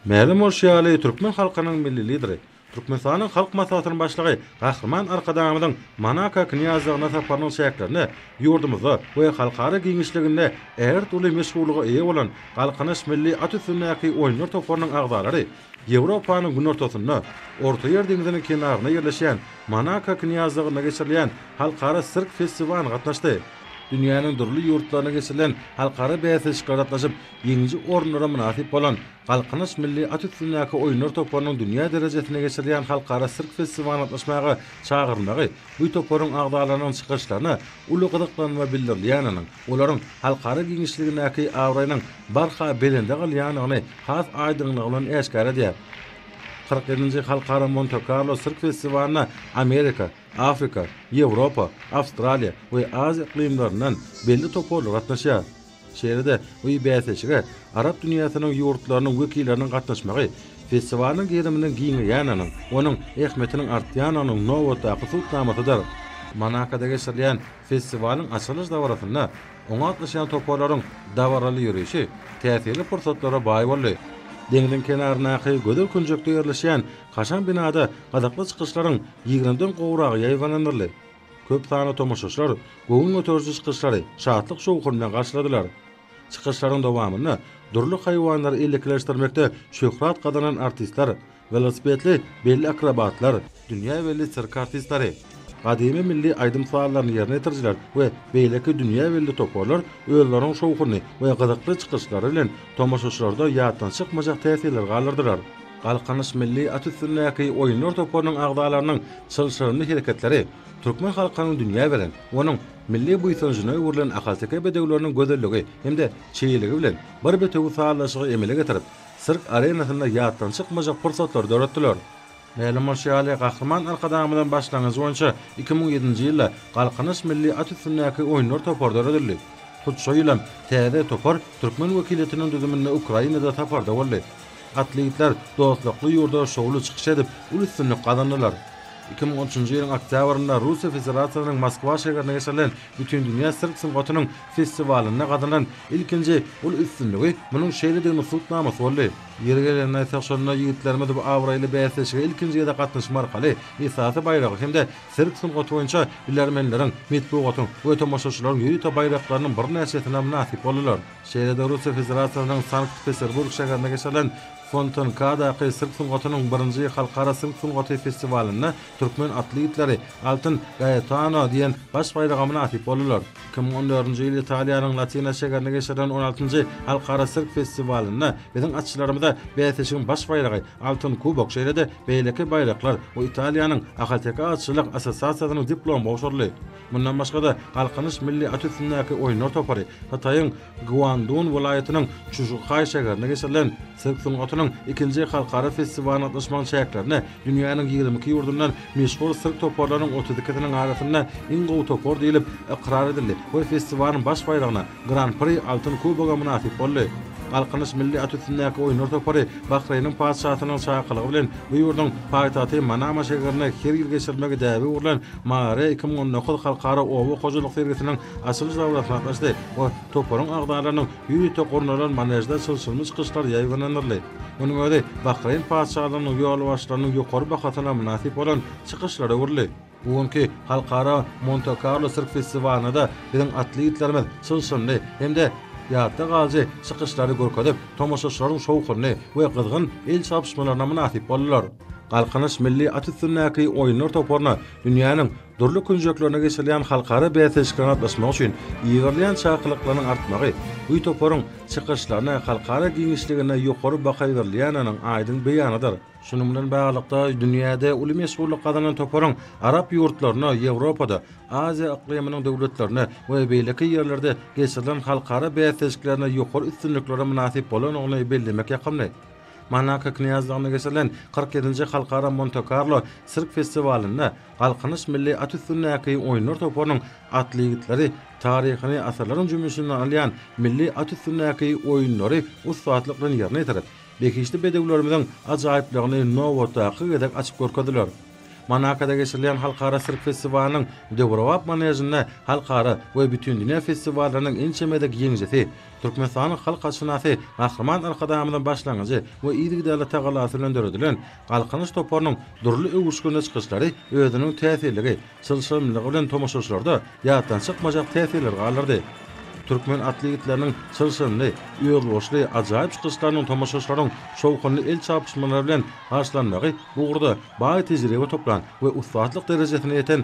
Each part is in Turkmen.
Mälim bolşy ýaly, türkmen halkynyň Milli Lideri, Türkmenistanyň Halk Maslahatynyň Başlygy Gahryman Arkadagymyzyň Monako Knýazlygyna saparynyň çäklerinde ýurdumyzda we halkara giňişliginde ägirt uly meşhurlyga eýe bolan Galkynyş milli at üstündäki oýunlar toparynyň agzalary Ýewropanyň günortasynda, Ortaýer deňziniň kenarynda ýerleşýän Monako Knýazlygynda geçirilýän Halkara sirk festiwalyna gatnaşdy. Dünýäniň dürli ýurtlarynda geçirilen halkara bäsleşiklere gatnaşyp, ýeňiji orunlara mynasyp bolan Galkynyş milli at üstündäki oýunlar toparynyň dünýä derejesinde geçirilýän halkara sirk festiwalyna gatnaşmaga çagyrmagy bu toparyň agzalarynyň çykyşlaryna uly gyzyklanma bildirilýäniniň, olaryň halkara giňişligindäki abraýynyň barha belende galýanyny has aýdyňlygy bilen äşgär edýär. Kyrk ýedinji Halkara Monte-Karlo sirk festiwalyna Amerika, Afrika, Ýewropa, Awstraliýa we Aziýa yklymlaryndan belli toparlar gatnaşýar. Şeýle-de, bu bäsleşige arap dünýäsiniň ýurtlarynyň wekilleriniň gatnaşmagy festiwalyň geriminiň giňeýändiginiň, onuň ähmiýetiniň artýandygynyň nobatdaky subutnamasydyr. Monakoda geçirilýän festiwalyň açylyş dabarasynda oňa gatnaşýan toparlaryň dabaraly ýörişi täsirli pursatlara baý boldy. Deňziň kenaryndaky gözel künjekde ýerleşýän kaşaň binada gyzykly çykyşlaryň ýigrimden gowragy ýaýbaňlandyryldy. Köp sanly tomaşaçylar göwün göteriji çykyşlary şatlyk-şowhun bilen garşyladylar. Çykyşlaryň dowamynda dürli haýwanlary ellekileşdirmekde şöhrat gazanan artistler, welosipedli belli akrobatlar, dünýä belli sirk artistleri, gadymy milli aýdym-sazlaryny ýerine ýetirijiler we beýleki dünýä belli toparlar özleriniň şowhunly we gyzykly çykyşlary bilen tomaşaçylarda ýatdan çykmajak täsirleri galdyrdylar. Galkynyş milli at üstündäki oýunlar toparynyň agzalarynyň çylşyrymly hereketleri türkmen halkynyň dünýä beren, onuň milli buýsanjyna öwrülen ahalteke bedewleriniň gözelligi hem-de çeýeligi bilen bir bitewi sazlaşygy emele getirip, sirk arenasynda ýatdan çykmajak pursatlary döretdiler. Mälim bolşy ýaly, Gahryman Arkadagymyzyň başlangyjy boýunça iki müň ýedinji ýylda Galkynyş milli at üstündäki oýunlar topary döredildi. Hut şo ýylam täze topar türkmen wekiliýetiniň düzüminde Ukrainada saparda boldy. Atly ýigitler dostlukly ýurda şowly çykyş edip, uly üstünlik gazandylar. Iki müň on üçünji ýylyň oktýabrynda Russiýa Federasiýasynyň Moskwa şäherinde geçirilen Bütindünýä sirk sungatynyň festiwalynda gazanan ilkinji uly üstünligi munuň şeýlediginiň subutnamasy boldy. Ýeri gelende aýtsak, şonda ýigitlerimiz bu abraýly bäsleşige ilkinji gezek gatnaşma arkaly esasy baýragy hem-de sirk sungaty boýunça bilermenleriň, metbugatyň we tomaşaçylaryň ýörite baýraklarynyň birnäçesine mynasyp boldular. Şeýle-de Russiýa Federasiýasynyň Sankt-Peterburg şäherinde geçirilen Fontenkadaky sirk sungatynyň birinji halkara sirk sungaty festiwalynda türkmen atly itleri Altyn Gaetano diýen baş baýraga mynasyp boldular. Iki müň on dördünji ýyl Italiýanyň Latina şäherinde geçirilen on altynjy Halkara sirk festiwalynda biziň atçylarymyza bäsleşigiň baş baýragy Altyn kubok şeýle-de beýleki baýraklar we Italiýanyň Ahalteke atçylyk assosiasiýasynyň diplomy gowşuryldy. Mundan başga-da, Galkynyş milli at üstündäki oýunlar topary Hytaýyň Guandun welaýatynyň Çžuhaý şäherinde geçirilen sirk sungatynyň ikinji halkara festiwalyna gatnaşmagyň çäklerinde dünýäniň ýigrimi iki ýurdundan meşhur sirk toparlarynyň otuz ikisiniň arasynda iň gowy topar diýlip ykrar edildi we festiwalyň baş baýragyna, Gran-pri, altyn kuboga mynasyp boldy. Galkynyş milli at üstündäki oýunlar topary Bahreýniň Patyşasynyň çakylygy bilen bu ýurduň paýtagty Manama şäherinde her ýyl geçirilmegi däbe öwrülen Mary iki müň on dokuz halkara oba hojalyk sergisiniň açylyş dabarasyna gatnaşdy we toparyň agzalarynyň ýörite gurnalan manežde çylşyrymly çykyşlar ýaýbaňlandyryldy. Munuň özi Bahreýn Patyşalygynyň ýolbaşçylarynyň ýokary bahasyna mynasyp bolan çykyşlara öwrüldi. Bu günki Halkara Monte-Karlo sirk festiwalynda-da biziň atly ýigitlerimiz çylşyrymly hem-de ýatda galyjy çykyşlary görkezip, tomaşaçylaryň şowhunly we gyzgyn el çarpyşmalaryna mynasyp boldular. Galkynyş milli at üstündäki oýunlar toparyna dünýäniň dürli künjeklerinde geçirilýän halkara bäsleşiklere gatnaşmak üçin ýygrylýan çakylyklaryň artmagy bu toparyň çykyşlaryna halkara giňişliginde ýokary baha berilýändiginiň aýdyň beýanydyr. Şunuň bilen baglylykda, dünýäde uly meşhurlyk gazanan toparyň arap ýurtlarynda, Ýewropada, Aziýa yklymynyň döwletlerinde we beýleki ýerlerde geçirilen halkara bäsleşiklerinde ýokary üstünliklere mynasyp bolandygyny bellemek ýakymly. Monako knýazlygynda geçirilen kyrk ýedinji Halkara Monte-Karlo sirk festiwalynda Galkynyş milli at üstündäki oýunlar toparynyň atly ýigitleri taryhyny asyrlaryň jümmüşinden alýan milli at üstündäki oýunlary ussatlyk bilen ýerine ýetirip, behişdi bedewlerimiziň ajaýyplygyny nobatdaky gezek açyp görkezdiler. Monakoda geçirilýän halkara sirk festiwalynyň döwrebap manežinde halkara we bütindünýä festiwallarynyň ençeme dek ýeňijisi, Türkmenistanyň halk haçşynasy Gahryman Arkadagymyzyň başlangyjy we yzygiderli tagallasy bilen döredilen Galkynyş toparynyň dürli öwüşginli çykyşlary özüniň täsirligi, çylşyrymlylygy bilen tomaşaçylarda ýatdan çykmajak täsirleri galdyrdy. Türkmen atly ýigitleriniň çylşyrymly, özboluşly, ajaýyp çykyşlarynyň tomaşaçylaryň şowhunly el çarpyşmalary bilen garşylanmagy bu ugurda baý tejribe toplan we ussatlyk derejesine ýeten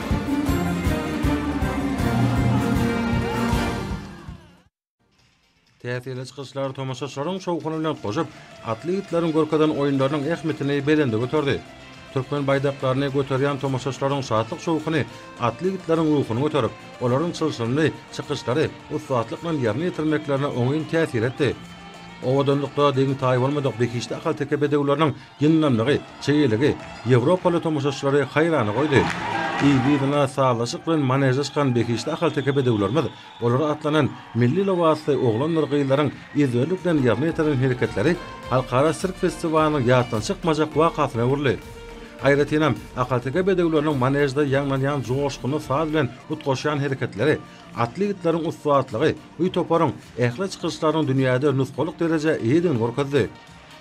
Täsirli çykyşlar tomaşaçylaryň şowhuny bilen goşup, atly ýigitleriň görkezen oýunlarynyň ähmiýetini belende göterdi. Türkmen baýdaklaryny göterýän tomaşaçylaryň şatlyk-şowhuny atly ýigitleriň ruhuny göterip, olaryň çylşyrymly çykyşlary ussatlyk bilen ýerine ýetirmeklerine oňyn täsir etdi. Owadanlykda deň-taýy bolmadyk behişdi ahalteke bedewleriniň Ýyndamlygy, çeýeligi ýewropaly tomaşaçylary haýrana goýdy. Yz-yzyna sazlaşyk bilen maneže çykan behişdi ahalteke bedewlerimiz, olara atlanan milli lybasly oglanlar-gyzlaryň ezberlik bilen ýerine ýetiren hereketleri halkara sirk festiwalynyň ýatdan çykmajak wakasyna öwrüldi. Aýratynam, ahalteke bedewleriniň manežde ýaňlanýan joşgunly saz bilen utgaşýan hereketleri, atly ýigitleriň ussatlygy bu toparyň ähli çykyşlarynyň dünýäde nusgalyk derejä eýedigini görkezdi.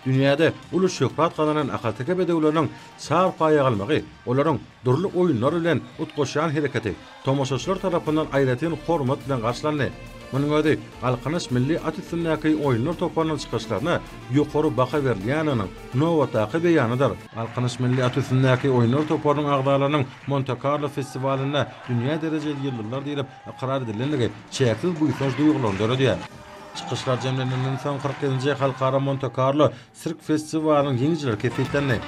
Dünýäde uly şöhrat gazanan ahalteke bedewleriniň çar paýa galmagy, olaryň dürli oýunlar bilen utgaşýan hereketi tomaşaçylar tarapyndan aýratyn hormat bilen garşylandy. Munuň özi Galkynyş milli at üstündäki oýunlar toparynyň çykyşlaryna ýokary baha berilýändiginiň nobatdaky beýanydyr. Galkynyş milli at üstündäki oýunlar toparynyň agzalarynyň Monte-Karlo festiwalynda dünýä derejeli ýyldyzlar diýlip ykrar edilendigi çäksiz buýsanç duýgularyny döredýär. Çykyşlar jemlenilenden soň kyrk ýedinji Halkara Monte-Karlo sirk festiwalynyň ýeňijileri kesgitlendi.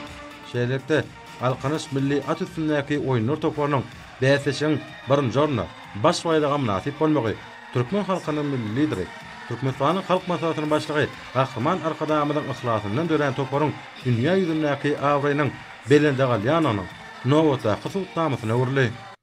Şeýlelikde, Galkynyş milli at üstündäki oýunlar toparynyň bäsleşigiň birinji ornuna, baş baýraga mynasyp bolmagy türkmen halkynyň Milli Lideri, Türkmenistanyň Halk Maslahatynyň Başlygy Gahryman Arkadagymyzyň yhlasyndan dörän toparyň dünýä ýüzündäki abraýynyň belende galýandygynyň nobatdaky subutnamasyna öwrüldi.